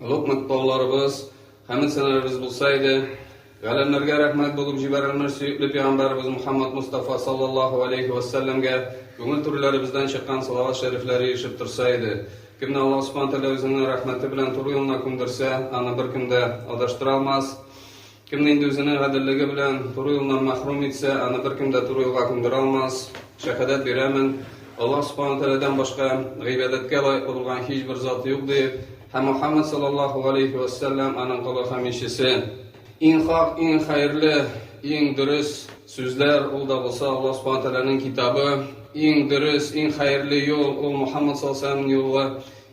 Олуг матбагаларыбыз, хәмәсәләребез булса иде! Галәмнәргә рәхмәт булып җибәрелмеш сөекле пигамбәребез Мөхәммәд Мостафа саллаллаһу галәйһи вә сәлләмгә күңел түреләребездән чыккан салават шәрифләре ирешеп торса иде! Кемне Аллаһ Субхана Тәгалә Үзенең рәхмәте белән туры юлына күмдерсә, аны беркем дә адаштыра алмас! Кемне инде үзенең гаделлеге белән туры юлдан мәхрүм итсә, аны беркем дә туры юлга күндерә алмас. Шәһадәт бирәмен, Аллаһ Субхана ва Тәгаләдән башка гыйбадәткә лаеклы булган һичбер зат юк, дип, һәм Мухаммад саллаллаһу галәйһи ва саллям аның колы һәм илчесе. Иң хак, иң хәерле, иң дөрес сүзләр, ул да булса Аллаһ Субхана ва Тәгаләнең китабы. Иң дөрес, иң хәерле юл, ул Мухаммад саллаллаһу галәйһи ва саллямның юлы.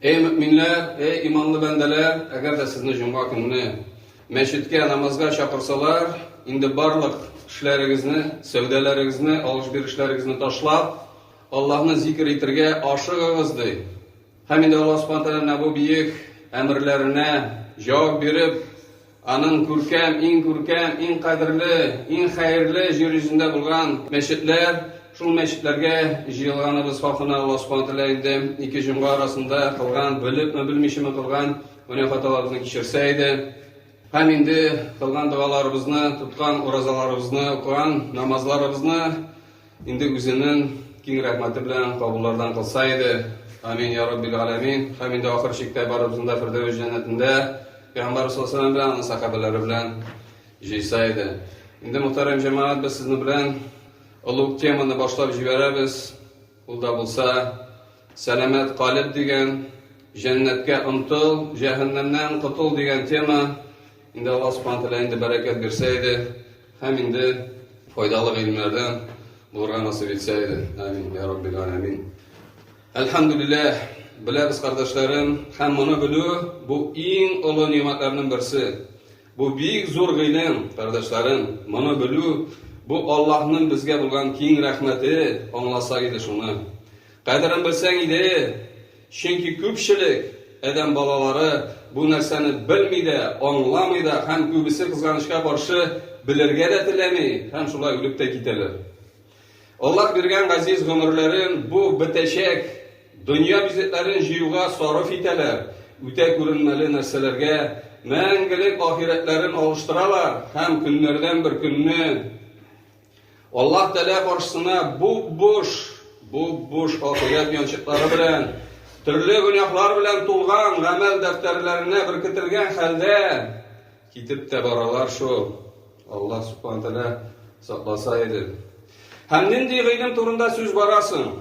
Эй мөэминләр, эй иманлы бәндәләр, әгәр дә сезне җомга көнне мәчеткә намазга чакырсалар, инде барлык эшләрегезне, сәүдәләрегезне, алыш-бирешләрегезне ташлап, Аллаһны зикер итергә ашыгыгыз, ди. Һәм инде Аллаһ Субхана Тәгаләнең бу биек әмерләренә җавап биреп, Аның күркәм, иң күркәм, иң кадерле, иң хәерле җир йөзендә булган мәчетләр, шул мәчетләргә җыелганыбыз хакына Аллаһ Субхана Тәгалә инде ике җомга арасында кылган, белепме, белмичеме кылган гөнаһ хаталарыбызны кичерсә иде. Һәм инде кылган догаларыбызны, тоткан уразаларыбызны, укыган намазларыбызны Инде үзенең киң рәхмәте белән кабуллардан кылса иде. Амин, йа Раббил галәмин. Һәм инде ахыр чиктә барыбызны да Фирдәвес җәннәтендә Пәйгамбәрбез саллаллаһу галәйһи ва сәлләм белән аның сәхабәләре белән җыйса иде. Инде мөхтәрәм җәмәгать, без сезнең белән олы ук теманы башлап җибәрәбез. Ул да булса, Сәламәт калеб дигән, Җәннәткә омтыл, җәһәннәмнән котыл дигән тема. Инде Алла Субхана Тәгалә инде бәрәкәт бирсә иде һәм инде файдалы гыйлемнәрдән булырга насыйп итсә иде. Амин, я Рабби галәмин. Әлхәмдүлилләһ, беләбез кардәшләрем, һәм моны белү бу иң олы нимәтләрнең берсе. Бу бик зур гыйлем, кардәшләрем. Моны белү бу Аллаһның безгә булган киң рәхмәте, аңласа иде шуны. Кадерен белсәң иде, Чөнки күпчелек адәм балалары бу нәрсәне белми дә, аңламый да һәм күбесе, кызганычка каршы, белергә дә теләми һәм шулай үлеп тә китәләр. Аллаһ биргән газиз гомерләрен бу бетәчәк дөнья бизәкләрен җыюга сарыф итәләр, үтә күренмәле нәрсәләргә мәңгелек ахирәтләрен алыштыралар һәм көннәрдән бер көнне, Аллаһ Тәгалә каршысына буп-буш, буп-буш ахирәт янчыклары белән, төрле гөнаһлар белән тулган гамәл дәфтәрләренә беркетелгән хәлдә китеп тә баралар шул. Аллаһ Субхана Тәгалә сакласа иде. Һәм нинди гыйлем турында сүз бара соң?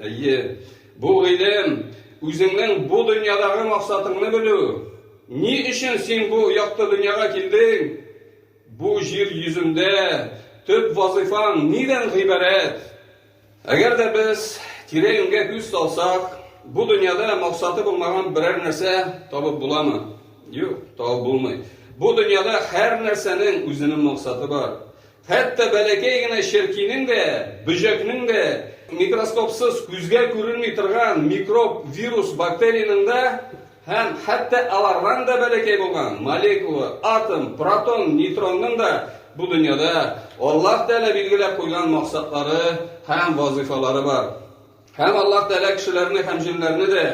Әйе, бу гыйлем үзеңнең бу дөньядагы максатыңны белү. Ни өчен син бу якты дөньяга килдең? Бу җир йөзендә төп вазыйфаң нидән гыйбарәт? Әгәр дә без тирә-юньгә күз салсак, бу дөньяда максаты булмаган берәр нәрсә табып буламы? Юк, табып булмый. Бу дөньяда һәр нәрсәнең үзенең максаты бар. Хәтта бәләкәй генә черкинең дә, бөҗәкнең дә, микроскопсыз күзгә күренми торган микроб, вирус, бактериянең дә Һәм хәтта алардан да бәләкәй булган молекула, атом, протон, нейтронның да бу дөньяда Аллаһ Тәгалә билгеләп куйган максатлары һәм вазыйфалары бар. Һәм Аллаһ Тәгалә кешеләрне һәм җеннәрне дә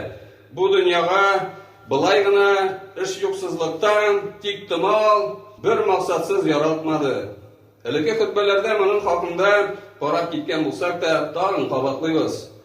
бу дөньяга былай гына эш юксызлыктан, тик томал, бер максатсыз яралтмады. Элекке хөтбәләрдә моның хакында карап киткән булсак та, тагын кабатлыйбыз.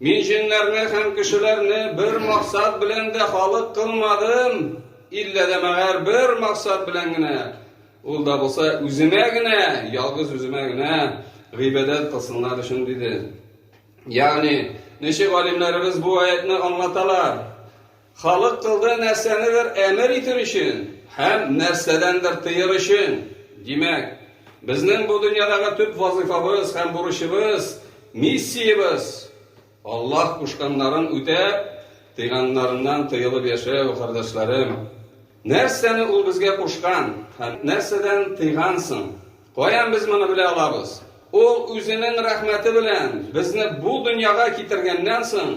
Мин җеннәрне һәм кешеләрне бер максат белән дә халык кылмадым, иллә дә мәгәр бер максат белән генә, ул да булса үземә генә, ялгыз үземә генә гыйбадәт кылсыннар өчен, диде. Ягъни, ничек галимнәребез бу аятьне аңлаталар? Халык кылды нәрсәнедер әмер итер өчен һәм нәрсәдәндер тыер өчен. Димәк, безнең бу дөньядагы төп вазыйфабыз һәм бурычыбыз, миссиябез, Аллаһ кушканнарын үтәп, тыйганнарыннан тыелып яшәү, кардәшләрем. Нәрсәне Ул безгә кушкан һәм нәрсәдән тыйгансың? Каян без моны белә алабыз? Ул Үзенең рәхмәте белән безне бу дөньяга китергәннән соң,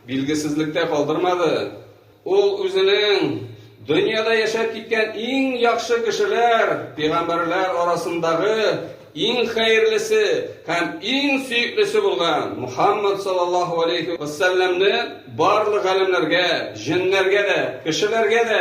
билгесезлектә калдырмады. Ул Үзенең дөньяда яшәп киткән иң яхшы кешеләр, пигамбәрләр арасындагы иң хәерлесе һәм иң сөеклесе булган Мухаммад саллаллаһу галәйһи вәссәлләмне барлык галәмнәргә, җеннәргә дә, кешеләргә дә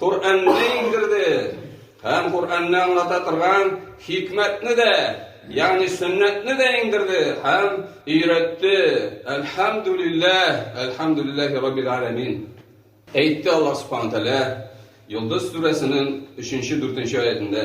Коръәнне иңдерде һәм Коръәнне аңлата торган хикмәтне дә, ягъни сөннәтне дә иңдерде һәм өйрәтте. Әлхәмдүлилләһ, әлхәмдүлилләһи раббил аләмин. Әйтте Аллаһ Субхану тәгалә Йолдыз сүрәсенең 3-4 аятендә.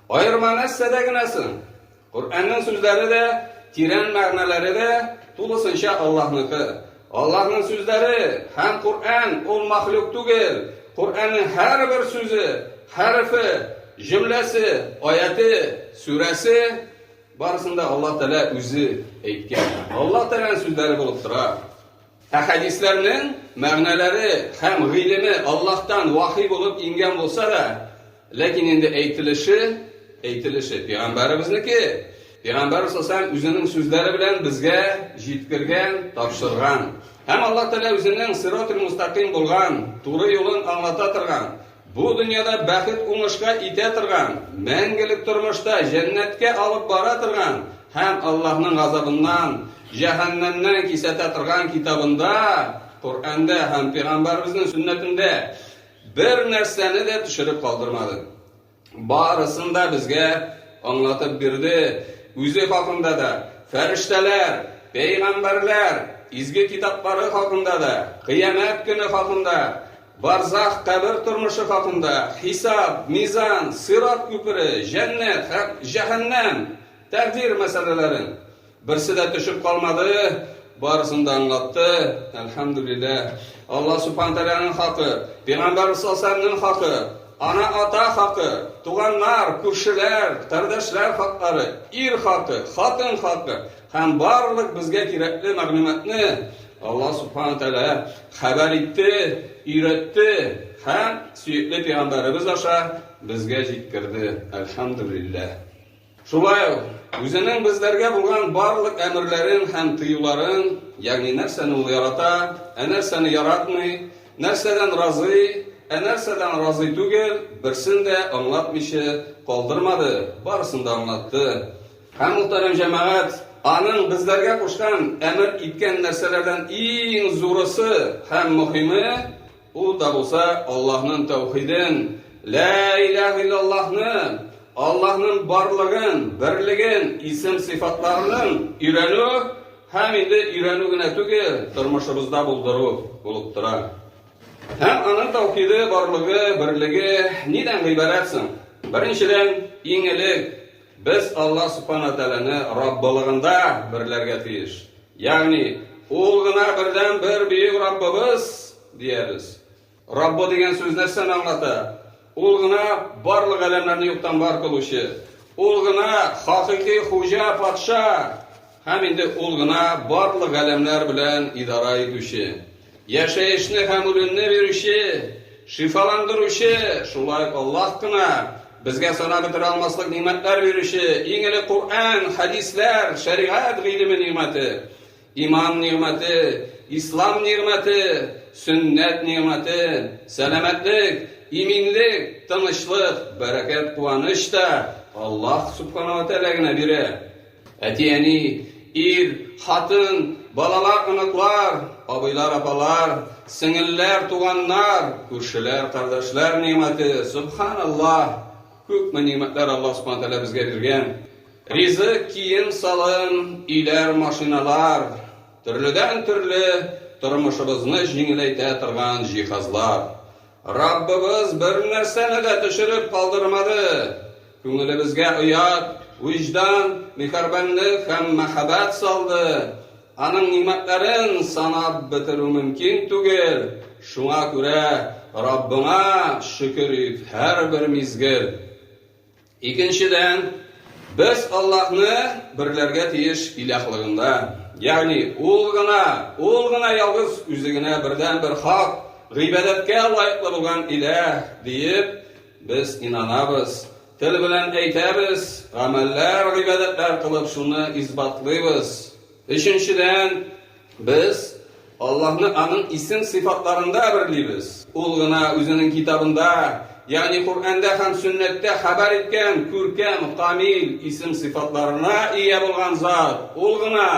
Аерма нәрсәдә генә соң? Коръәннең сүзләре дә, тирән мәгънәләре дә тулысынча Аллаһныкы. Аллаһның сүзләре һәм Коръән ул мәхлук түгел. Коръәннең һәрбер сүзе, хәрефе, җөмләсе, аяте, сүрәсе, барысын да Аллаһ Тәгалә үзе әйткән. Аллаһ Тәгаләнең сүзләре булып тора. Ә хәдисләрнең мәгънәләре һәм гыйлеме Аллаһтан вахи булып иңгән булса да, ләкин инде әйтелеше, әйтелеше, пигамбәребезнеке, пигамбәр сасам үзенең сүзләре белән безгә җиткергән, тапшырган. Һәм Аллаһ Тәгалә үзенең сиротул-мустакыйм булган, туры юлын аңлата торган, Бу дөньяда бәхет уңышка итә торган, мәңгелек тормышта җәннәткә алып бара торган һәм Аллаһның газабыннан, җәһәннәмнән кисәтә торган китабында, Коръәндә һәм пәйгамбәребезнең сөннәтендә бер нәрсәне дә төшереп калдырмады. Барысын да безгә аңлатып бирде, үзе хакында да, фәрештәләр, пәйгамбәрләр, изге китаплары хакында да, кыямәт көне хакында, Барзах, кабер тормышы хакында, хисап, мизан, сират күпере, җәннәт һәм җәһәннәм, тәкъдир мәсьәләләрен. Берсе дә төшеп калмады, барысын да аңлатты, әлхәмдүлилләһ. Алла Субхана Тәгаләнең хакы, Пигамбәр Сасәләмнең хакы, ана-ата хакы, туганнар, күршеләр, кардәшләр хаклары, ир хакы, хатын хакы, Һәм барлык безгә кирәкле мәгълүматны Аллаһ Субхана ва Тәгалә хәбәр итте, өйрәтте һәм сөекле пәйгамбәребез аша безгә җиткерде. Әлхәмдүлилләһ! Шулай ук Үзенең безләргә булган барлык әмерләрен һәм тыюларын, ягъни нәрсәне Ул ярата, ә нәрсәне яратмый, нәрсәдән разый, ә нәрсәдән разый түгел, берсен дә аңлатмыйча калдырмады, барысын да аңлатты. Һәм, мөхтәрәм җәмәгать, аның безләргә кушкан, әмер иткән нәрсәләрдән иң зурысы һәм мөхиме, ул да булса Аллаһның тәүхиден, Лә иләһә иллаллаһны, Аллаһның барлыгын, берлеген, исем-сыйфатларының өйрәнү һәм инде өйрәнү генә түгел, тормышыбызда булдыру булып тора. Һәм аның тәүхиде, барлыгы, берлеге нидән гыйбарәт соң? Беренчедән, иң элек, Без Аллаһ Субхана Тәгаләне Раббылыгында берләргә тиеш. Ягъни, Ул гына бердәнбер Бөек Раббыбыз, диябез. Раббы дигән сүз нәрсәне аңлата? Ул гына барлык галәмнәрне юктан бар кылучы. Ул гына хакыйкый хуҗа, патша. Һәм инде ул гына барлык галәмнәр белән идара итүче, яшәешне һәм үлемне бирүче, шифаландыручы, шулай ук Аллаһ кына, безгә санап бетерә алмаслык нигъмәтләр бирүче, иң элек Коръән, хәдисләр, шәригать гыйлеме нигъмәте, иман нигъмәте, ислам нигъмәте, сөннәт нигъмәте, сәламәтлек, иминлек, тынычлык, бәрәкәт, куаныч та Аллаһ Сүбхәнәһү вә Тәгалә генә бирә. Әти-әни, ир, хатын, балалар, оныклар, абыйлар, апалар, сеңелләр, туганнар, күршеләр, кардәшләр нигъмәте, сөбханаллаһ! Күпме нигъмәтләр Аллаһ Субхана Тәгалә безгә биргән! Ризык, кием-салым, өйләр, машиналар, төрледән-төрле тормышыбызны җиңеләйтә торган җиһазлар. Раббыбыз бер нәрсәне дә төшереп калдырмады, күңелебезгә оят, вөҗдан, миһәрбанлек һәм мәһабәт салды. Аның нигъмәтләрен санап бетерү мөмкин түгел, шуңа күрә Раббыңа шөкер ит һәрбер мизгел. Икенчедән, без Аллаһны берләргә тиеш илаһлыгында, ягъни Ул гына, Ул гына ялгыз Үзе генә бердәнбер хак, гыйбадәткә лаеклы булган илаһ, диеп без инанабыз. Тел белән әйтәбез, гамәлләр, гыйбадәтләр кылып шуны исбатлыйбыз. Өченчедән, Без Аллаһны Аның исем-сыйфатларында әверлибез. Ул гына Үзенең Китабында, ягъни Коръәндә һәм Сөннәттә хәбәр иткән күркәм, камил исем-сыйфатларына ия булган Зат. Ул гына,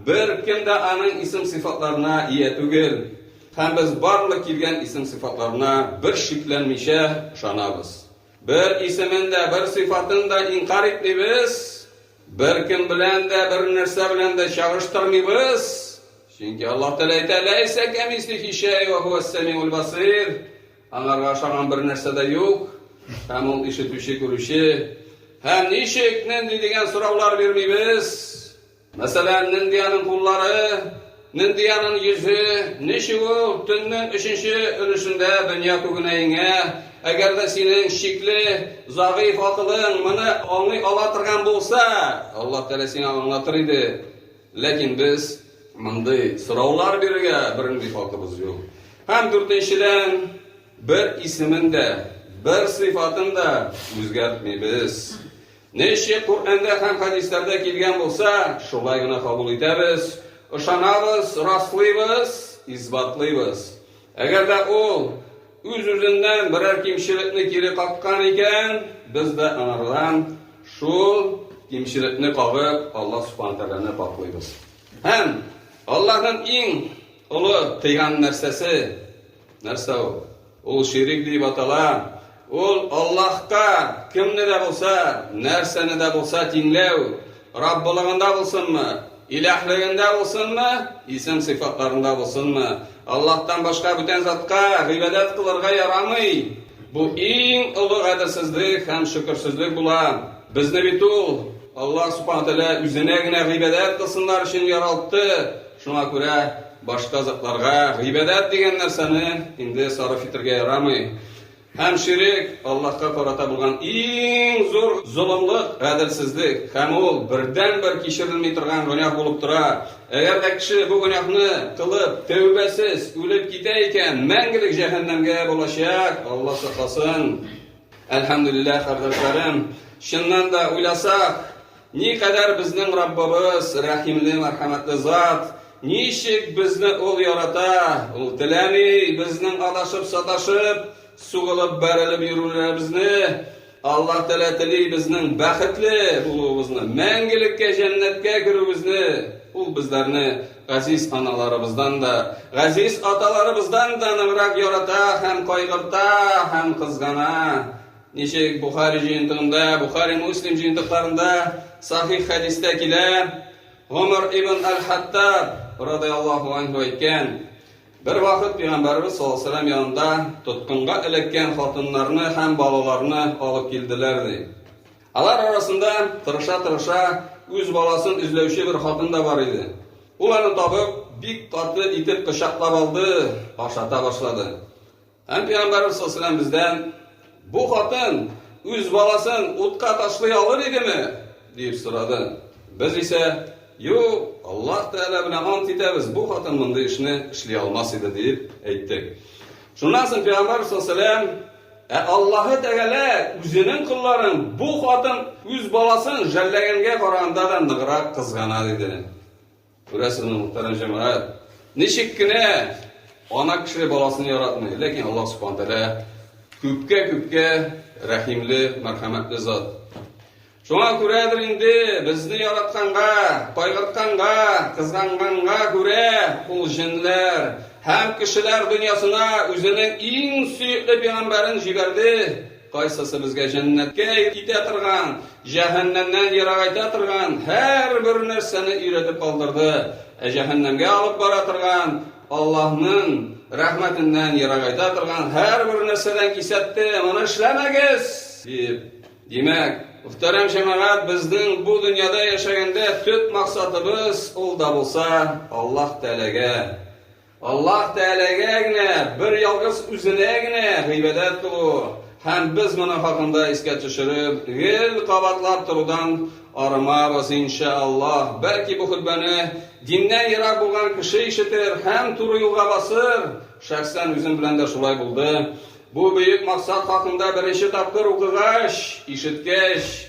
беркем дә Аның исем-сыйфатларына ия түгел. Һәм без барлык килгән исем-сыйфатларына бер шикләнмичә ышанабыз. Бер исемен дә, бер сыйфатын да инкарь итмибез. Беркем белән дә, бернәрсә белән дә чагыштырмыйбыз, чөнки Аллаһ Тәгалә әйтә, Ләйсә кәмислихи шәй ва һуәс-сәмиул басир. Аңарга ошаган бер нәрсә дә юк, һәм ул ишетүче, күрүче. Һәм ничек, нинди дигән сораулар бирмибез. Мәсәлән, нинди аның куллары? Миндиярның йөзе, ничек ул, төннең өченче өлешендә дөнья күгенә иңә? Әгәр дә синең шикле, зәгыйфь акылың моны аңлый ала торган булса, Аллаһ Тәгалә сиңа аңлатыр иде. Ләкин без мондый сораулар бирергә бернинди хакыбыз юк. Һәм дүртенчедән, бер исемен дә, бер сыйфатын да үзгәртмибез. Ничек Коръәндә һәм хәдисләрдә килгән булса, шулай гына кабул итәбез, ышанабыз, раслыйбыз, исбатлыйбыз. Әгәр дә ул үз-үзеннән берәр кимчелекне кире каккан икән, без дә аңардан шул кимчелекне кагып, Аллаһ Субхана Тәгаләне пакълыйбыз. Һәм Аллаһның иң олы тыйган нәрсәсе нәрсә ул? Ул ширик дип атала. Ул Аллаһка кемне дә булса, нәрсәне дә булса тиңләү, Раббылыгында булсынмы, Илаһлегендә булсынмы, исем-сыйфатларында булсынмы, Аллаһтан башка бүтән затка гыйбадәт кылырга ярамый. Бу иң олы гаделсезлек һәм шөкерсезлек була. Безне бит ул, Аллаһ Субхана Тәгалә, үзенә генә гыйбадәт кылсыннар өчен яралтты, шуңа күрә, Башка затларга гыйбадәт дигән нәрсәне инде сарыф итәргә ярамый. Һәм ширек Аллаһка карата булган иң зур золымлык, гаделсезлек, һәм ул бердәнбер кичерелми торган гөнаһ булып тора. Әгәр дә кеше бу гөнаһны кылып, тәүбәсез үлеп китә икән, мәңгелек җәһәннәмгә булачак, Алла сакласын. Әлхәмдүлилләһ, кардәшләрем, чыннан да уйласак, Никадәр безнең Раббыбыз рәхимле, мәрхәмәтле Зат! Ничек безне Ул ярата! Ул теләми безнең адашып-саташып, сугылып-бәрелеп йөрүләребезне. Аллаһ Тәгалә тели безнең бәхетле булуыбызны, мәңгелеккә җәннәткә керүебезне. Ул безләрне газиз аналарыбыздан да, газиз аталарыбыздан да ныграк ярата һәм кайгырта һәм кызгана. Ничек Бухари җыентыгында, Бухари Муслим җыентыкларында сахих хәдистә килә, Гомар ибн Аль-Хаттаб радыяллаху анху әйткән, бер вакыт пигамбарыбыз саллаллаху алейһи ва сәлләм янында тоткынга эләккән хатыннарны һәм балаларны алып килделәр, ди. Алар арасында тырыша-тырыша үз баласын эзләүче бер хатын да бар иде. Ул аны табып, бик каты итеп кочаклап алды, ашата башлады. Һәм пәйгамбәрбез саллаллаһу бездән, Бу хатын үз баласын утка ташлый алыр идеме? дип сорады. Без исә, Юк, Аллаһ Тәгалә белән ант итәбез, бу хатын мондый эшне эшли алмас иде, дип әйттек. Шуннан соң пәйгамбәрбез саллаллаһу Ә Аллаһы Тәгалә үзенең колларын бу хатын үз баласын жәлләгәнгә караганда да ныграк кызгана, диде. Күрәсезме, мөхтәрәм җәмәгать, ничек кенә ана кеше баласын яратмый, ләкин Аллаһ Субхаһу Тәгалә күпкә-күпкә рәхимле, мәрхәмәтле зат. Шуңа күрәдер инде безне яратканга, кайгыртканга, кызганганга күрә ул җенләр һәм кешеләр дөньясына үзенең иң сөекле пигамбәрен җибәрде. Кайсысы безгә җәннәткә илтә торган, җәһәннәмнән ерагайта торган һәрбер нәрсәне өйрәтеп калдырды, ә җәһәннәмгә алып бара торган, Аллаһның рәхмәтеннән ерагайта торган һәрбер нәрсәдән кисәтте, моны эшләмәгез! дип. Димәк, мөхтәрәм җәмәгать, безнең бу дөньяда яшәгәндә төп максатыбыз ул да булса Аллаһ Тәгаләгә Аллаһ Тәгаләгә генә, бер ялгыз Үзенә генә гыйбадәт кылу һәм без моның хакында искә төшереп, гел кабатлап торудан арымабыз, иншәаллаһ. Бәлки бу хөтбәне диннән ерак булган кеше ишетер һәм туры юлга басыр. Шәхсән үзем белән дә шулай булды. Бу бөек максат хакында беренче тапкыр укыгач, ишеткәч,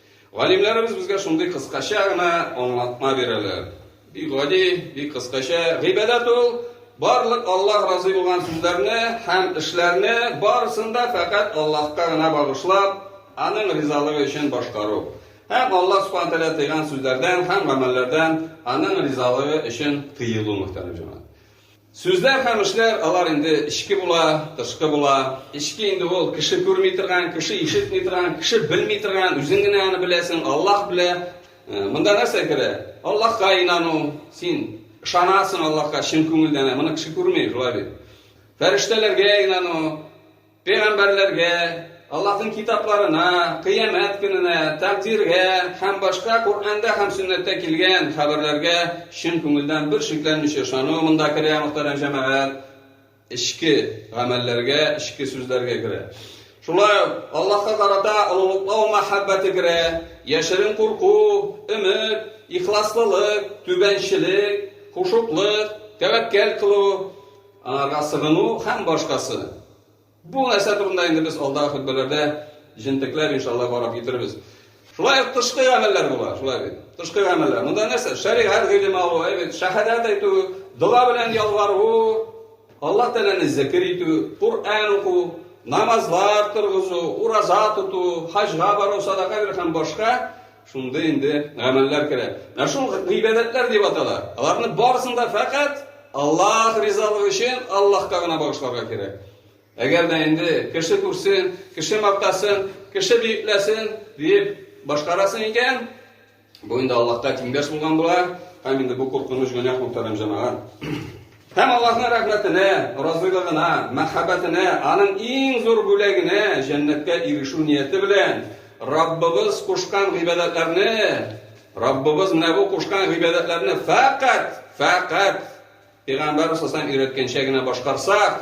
Галимнәребез безгә шундый кыскача гына аңлатма бирәләр. Бик гади, бик кыскача, гыйбадәт ул, барлык Аллаһ разый булган сүзләрне һәм эшләрне барысын да фәкать Аллаһка гына багышлап, Аның ризалыгы өчен башкару һәм Аллаһ Субхана Тәгалә тыйган сүзләрдән һәм гамәлләрдән Аның ризалыгы өчен тыелу, мөхтәрәм җәмәгать. Сүзләр һәм эшләр, алар инде эчке була, тышкы була. Эчке инде ул, кеше күрми торган, кеше ишетми торган, кеше белми торган, үзең генә аны беләсең, Аллаһ белә. Монда нәрсә керә? Аллаһка инану, син ышанасың Аллаһка чын күңелдән, ә моны кеше күрми, шулай бит. Фәрештәләргә инану. Пәйгамбәрләргә, Аллаһның китапларына, Кыямәт көненә, тәкъдиргә һәм башка Коръәндә һәм Сөннәттә килгән хәбәрләргә чын күңелдән бер шикләнмичә ышану монда керә, мөхтәрәм җәмәгать. Эчке гамәлләргә, эчке сүзләргә керә. Шулай ук Аллаһка карата олылыклау мәхәббәте керә, яшерен курку, өмет, ихласлылык, түбәнчелек, хушуклык, тәвәккәл кылу, Аңарга сыгыну һәм башкасы. Бу нәрсә турында инде без алдагы хөтбәләрдә җентекләп, иншалла, карап китерербез. Шулай ук тышкы гамәлләр була, шулай бит. Тышкы гамәлләр. Монда нәрсә? Шәригать гыйлеме алу, әй бит, шәһадәт әйтү, дога белән ялвару, Аллаһ Тәгаләне зикер итү, Коръән уку, намазлар торгызу, ураза тоту, хаҗга бару, садака бирү һәм башка. Шунда инде гамәлләр керә. Менә шул гыйбадәтләр дип атала. Аларны барысын да фәкать Аллаһ ризалыгы өчен Аллаһка гына багышларга кирәк. Әгәр дә инде кеше күрсен, кеше мактасын, кеше биекләсен дип башкарасын икән, бу инде Аллаһка тиңдәш булган була. Һәм инде бу куркыныч гөнаһ мөхтәрәм җәмәгать. Һәм Аллаһның рәхмәтенә, разыйлыгына, мәхәббәтенә, аның иң зур бүләгенә, җәннәткә ирешү нияте белән, Раббыбыз кушкан гыйбадәтләрне, Раббыбыз менә бу кушкан гыйбадәтләрне фәкать, фәкать Пәйгамбәр сасам өйрәткәнчә генә башкарсак,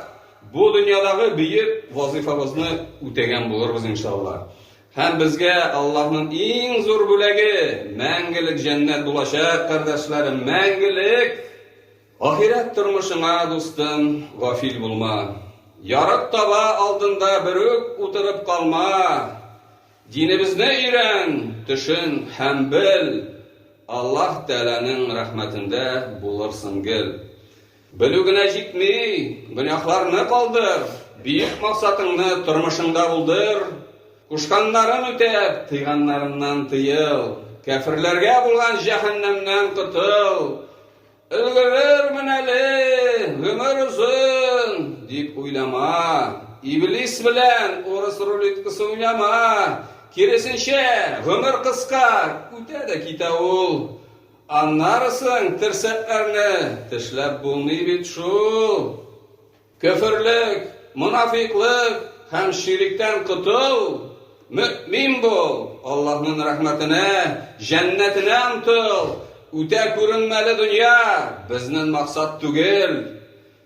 бу дөньядагы бөек вазыйфабызны үтәгән булырбыз, иншалла. Һәм безгә Аллаһның иң зур бүләге, мәңгелек җәннәт булачак, кардәшләрем, мәңгелек! Ахирәт тормышыңа, дустым, гафил булма. Ярык таба алдында берүк утырып калма. Динебезне өйрән, төшен һәм бел. Аллаһ Тәгаләнең рәхмәтендә булырсың гел. Белү генә җитми, гөнаһларны калдыр, бөек максатыңны тормышыңда булдыр. Кушканнарын үтәп, тыйганнарыннан тыел. Кяферләргә булган җәһәннәмнән котыл. Өлгерермен әле, гомер озын, дип уйлама. Иблис белән урыс рулеткасы уйнама. Киресенчә, гомер кыска, үтә дә китә ул. Аннарысын терсәкләрне тешләп булмый бит шул. Көферлек, монафикълык һәм ширектән котыл, мөэмин бул, Аллаһның рәхмәтенә, җәннәтенә омтыл, үтә күренмәле дөнья безнен максат түгел.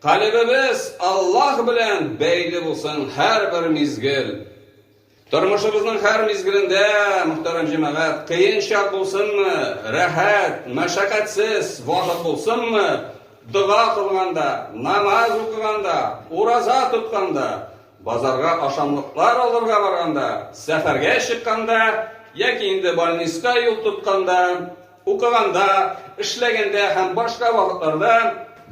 Калебебез Аллаһ белән бәйле булсын һәрбер мизгел. Тормышыбызның һәр мизгелендә, мөхтәрәм җәмәгать, кыен чак булсынмы, рәхәт, мәшәкатьсез вакыт булсынмы, дога кылганда, намаз укыганда, ураза тотканда, базарга ашамлыклар алырга барганда, сәфәргә чыкканда яки инде больниска юл тотканда, Укыганда, эшләгәндә һәм башка вакытларда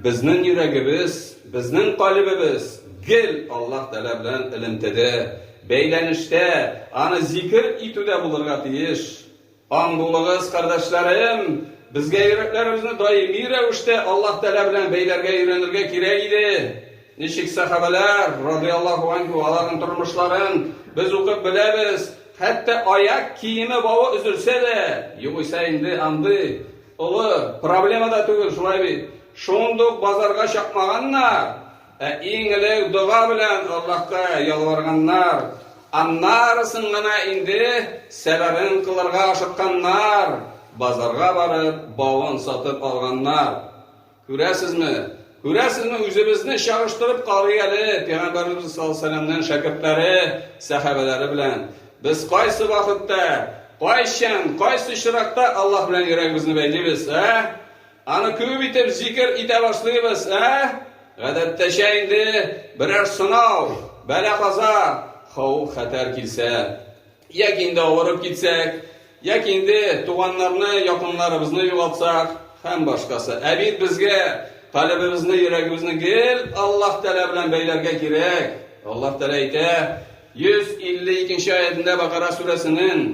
безнең йөрәгебез, безнең калебебез гел Аллаһ Тәгалә белән элемтәдә, бәйләнештә, аны зикер итүдә булырга тиеш. Аң булыгыз, кардәшләрем, безгә йөрәкләребезне даими рәвештә Аллаһ Тәгалә белән бәйләргә өйрәнергә кирәк иде. Ничек сәхабәләр, радиаллаһу анһу, аларның тормышларын без укып беләбез, хәтта аяк киеме бавы өзелсә дә, югыйсә инде андый олы проблема да түгел, шулай бит? Шундук базарга чапмаганнар, ә иң элек дога белән Аллаһка ялварганнар, аннарысын гына инде сәбәбен кылырга ашыкканнар, базарга барып, бавын сатып алганнар. Күрәсезме, күрәсезме, үзебезне чагыштырып карый әле, Пәйгамбәребез саллаллаһу алейһи сәләмнең шәкертләре, сәхабәләре белән. Без кайсы вакытта, кайчан, кайсы очракта Аллаһ белән йөрәгебезне бәйлибез, ә? Аны күп итеп зикер итә башлыйбыз, ә? Гадәттәчә инде берәр сынау, бәла-каза, хауф-хәтәр килсә, Яки инде авырып китсәк, яки инде туганнарны, якыннарыбызны югалтсак һәм башкасы. Ә бит безгә калебебезне, йөрәгебезне гел Аллаһ Тәгалә белән бәйләргә кирәк. Аллаһ Тәгалә әйтә, 152 нче аятендә Бакара сүрәсенең,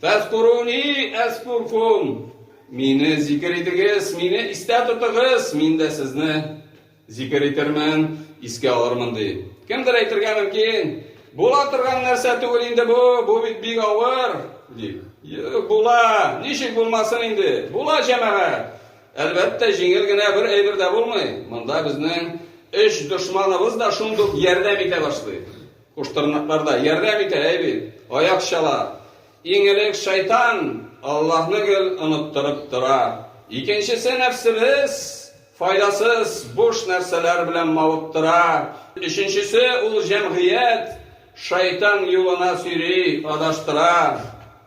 Фәзкуруни әзкуркум. Мине зикер итегез, мине истә тотыгыз, мин дә сезне Зикер итермен, искә алырмын, ди. Кемдер әйтергә мөмкин, Була торган нәрсә түгел инде бу, бу бит бик авыр, ди. Була, ничек булмасын инде, була җәмәгать. Әлбәттә, җиңел генә бер әйбер дә булмый. Монда безнең өч дошманыбыз да шундук ярдәм итә башлый. Куштырнаклар да ярдәм итә, әйби, аяк чала. Иң элек шайтан Аллаһны гел оныттырып тора. Икенчесе нәфсебез, Файдасыз, буш нәрсәләр белән мавыктыра. Өченчесе, ул җәмгыять, шайтан юлына сөйри, адаштыра.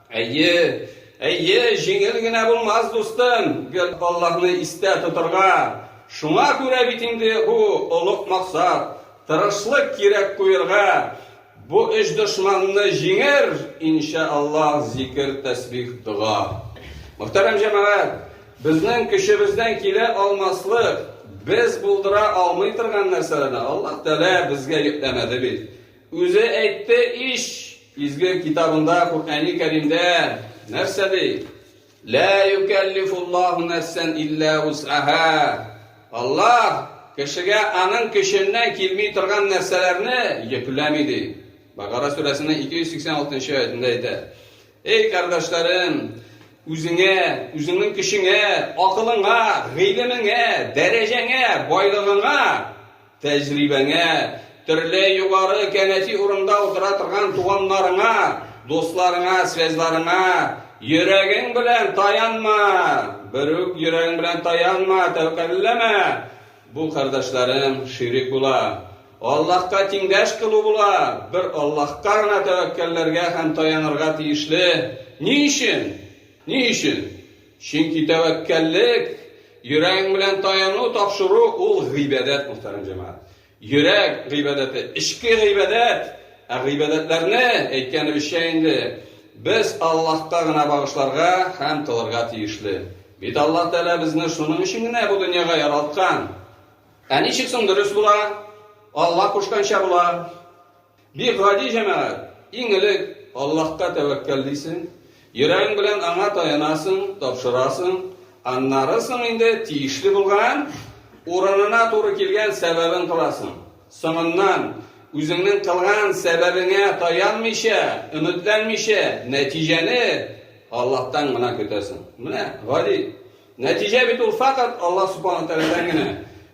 Әйе, әйе, җиңел генә булмас, дустым, гел Аллаһны истә тотырга. Шуңа күрә бит инде бу олуг максат, тырышлык кирәк куерга. Бу өч дошманны җиңер, иншә Аллаһ, зикер, тәсбих, дога. Мөхтәрәм җәмәгать, безнең көчебездән килә алмаслык, без булдыра алмый торган нәрсәләрне Аллаһ Тәгалә безгә йөкләмәде бит. Үзе әйтте ич, Изге Китабында, Коръәни Кәримдә нәрсә ди? Лә юкәллифуллаһу нәфсән илля усаһа. Аллаһ кешегә аның көченнән килми торган нәрсәләрне йөкләми, ди. Бакара сүрәсенең 286 нчы аятендә әйтә. Эй кардәшләрем, үзеңә, үзеңнең көчеңә, акылыңа, гыйлемеңә, дәрәҗәңә, байлыгыңа Тәҗрибәңә, төрле югары кәнәфи урында утыра торган туганнарыңа, дусларыңа, связьларыңа йөрәгең белән таянма! Берүк йөрәгең белән таянма, тәвәккәлләмә! Бу, кардәшләрем, ширек була. Аллаһка тиңдәш кылу була. Бер Аллаһка гына тәвәккәлләргә һәм таянырга тиешле. Ни өчен? Ни өчен? Чөнки тәвәккәллек, йөрәгең белән таяну, тапшыру, ул гыйбадәт, мөхтәрәм җәмәгать. Йөрәк гыйбадәте, эчке гыйбадәт. Ә гыйбадәтләрне, әйткәнебезчә инде, без Аллаһка гына багышларга һәм кылырга тиешле. Бит Аллаһ Тәгалә безне шуның өчен генә бу дөньяга яралткан. Ә ничек соң дөрес була? Аллаһ кушканча була. Бик гади, җәмәгать. Иң элек Аллаһка тәвәккәл дисең, йөрәгең белән Аңа таянасың, тапшырасың, аннары соң инде тиешле булган, урынына туры килгән сәбәбен кыласың. Соңыннан, үзеңнең кылган сәбәбеңә таянмыйча, өметләнмичә, нәтиҗәне Аллаһтан гына көтәсең. Менә гади. Нәтиҗә бит ул фәкать Аллаһ Субхана Тәгаләдән генә.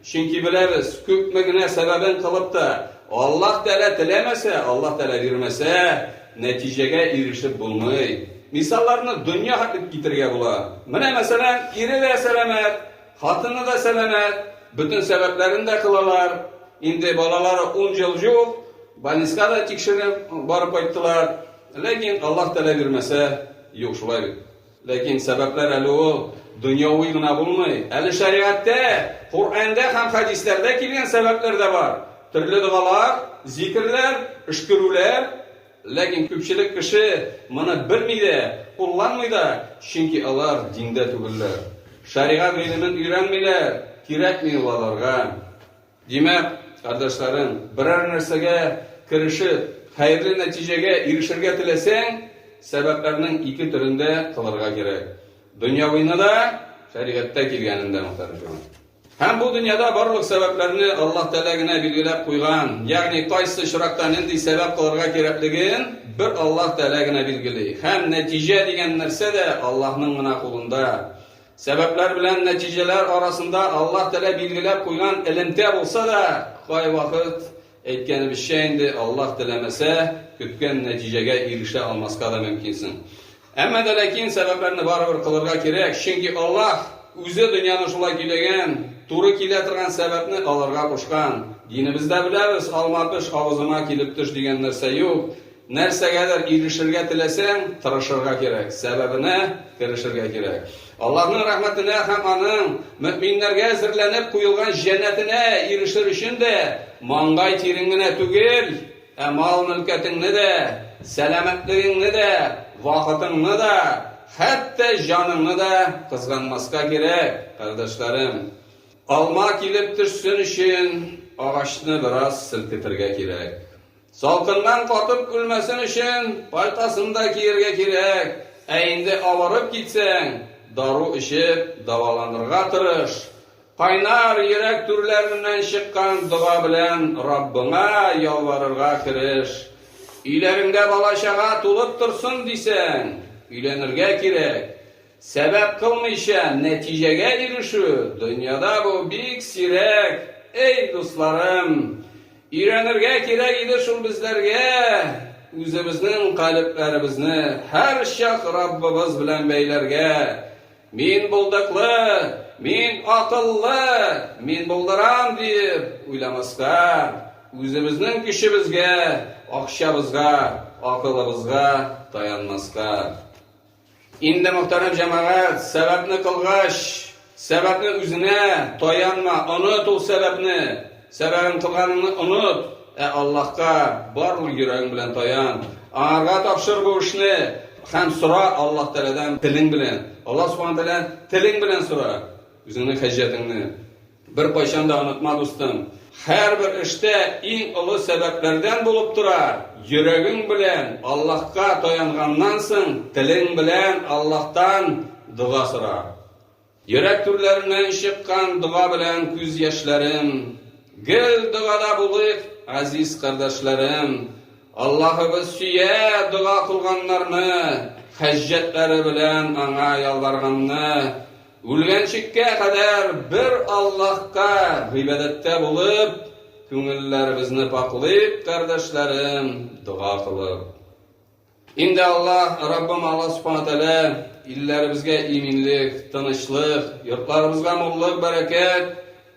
Чөнки беләбез, күпме генә сәбәбен кылып та, Аллаһ Тәгалә теләмәсә, Аллаһ Тәгалә бирмәсә, нәтиҗәгә ирешеп булмый. Мисалларны дөнья хәтле китерергә була. Менә, мәсәлән, ире дә сәламәт, хатыны да сәламәт, бөтен сәбәпләрен дә кылалар. Инде балалары ун ел җук, больниска да тикшереп барып кайттылар. Ләкин Аллаһ Тәгалә бирмәсә, юк, шулай бит. Ләкин сәбәпләр әле ул дөньяви гына булмый. Әле шәригатьтә, Коръәндә һәм хәдисләрдә килгән сәбәпләр дә бар. Төрле догалар, зикерләр, өшкерүләр. Ләкин күпчелек кеше моны белми дә, кулланмый да, чөнки алар диндә түгелләр. Шәригать гыйлемен өйрәнмиләр, кирәкми ул аларга. Димәк, кардәшләрем, берәр нәрсәгә керешеп, хәерле нәтиҗәгә ирешергә теләсәң, сәбәпләрнең ике төрен дә кылырга кирәк, дөньявыйны да, шәригатьтә килгәнен дә мөхтәрҗүан. Һәм бу дөньяда барлык сәбәпләрне Аллаһ Тәгалә генә билгеләп куйган, ягъни кайсы очракта нинди сәбәп кылырга кирәклеген бер Аллаһ Тәгалә генә билгели. Һәм нәтиҗә дигән нәрсә дә Аллаһның гына кулында. Сәбәпләр белән нәтиҗәләр арасында Аллаһ Тәгалә билгеләп куйган элемтә булса да, кайвакыт, әйткәнебезчә инде, Аллаһ теләмәсә, көткән нәтиҗәгә ирешә алмаска да мөмкинсең. Әмма дә ләкин сәбәпләрне барыбер кылырга кирәк, чөнки Аллаһ Үзе дөньяны шулай көйләгән, туры килә торган сәбәпне алырга кушкан. Динебездә беләбез, алма пеш, авызыма килеп төш дигән нәрсә юк. Нәрсәгәдер ирешергә теләсәң, тырышырга кирәк, сәбәбенә керешергә кирәк. Аллаһның рәхмәтенә һәм Аның мөэминнәргә әзерләнеп куелган җәннәтенә ирешер өчен дә маңгай тирең генә түгел, ә мал-мөлкәтеңне дә, сәламәтлегеңне дә, вакытыңны да, хәтта җаныңны да кызганмаска кирәк, кардәшләрем. Алма килеп төшсен өчен, агачны бераз селкетергә кирәк. Салкыннан катып үлмәсен өчен, пальтасын да киергә кирәк. Ә инде авырып китсәң, дару эчеп, дәваланырга тырыш. Кайнар йөрәк түрләреннән чыккан дога белән Раббыңа ялварырга кереш. Өйләреңдә бала-чага тулып торсын дисәң, өйләнергә кирәк. Сәбәп кылмыйча нәтиҗәгә ирешү, дөньяда бу бик сирәк, эй, дусларым! Өйрәнергә кирәк иде шул безләргә үзебезнең калебләребезне һәрчак Раббыбыз белән бәйләргә, Мин булдыклы, мин акыллы, мин булдырам, диеп уйламаска, үзебезнең көчебезгә, акчабызга, акылыбызга таянмаска. Инде, мөхтәрәм җәмәгать, сәбәпне кылгач, сәбәпне үзенә таянма, оныт ул сәбәпне, сәбәбен кылганыңны оныт, ә Аллаһка бар ул йөрәгең белән таян, Аңарга тапшыр бу эшне һәм сора Аллаһ Тәгаләдән телең белән, Аллаһ Субхана Тәгаләдән телең белән сора үзеңнең хаҗәтеңне. Беркайчан да онытма, дустым, һәрбер эштә иң олы сәбәпләрдән булып тора, йөрәгең белән Аллаһка таянганнан соң, телең белән Аллаһтан дога сора. Йөрәк түрләреннән чыккан дога белән күз яшьләрем. Гел догада булыйк, азиз кардәшләрем. Аллаһыбыз сөя дога кылганнарны, хаҗәтләре белән Аңа ялварганны. Үлгәнчеккә кадәр бер Аллаһка гыйбадәттә булып, күңелләребезне пакълыйк, кардәшләрем, дога кылып. Инде Аллаһ, Раббым Аллаһ Субхана Тәгалә илләребезгә иминлек, тынычлык, йортларыбызга муллык, бәрәкәт,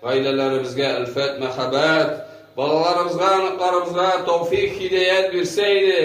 гаиләләребезгә әлфәт, мәхәббәт, балаларыбызга, аныкларыбызга тәүфик, һидәят бирсә иде.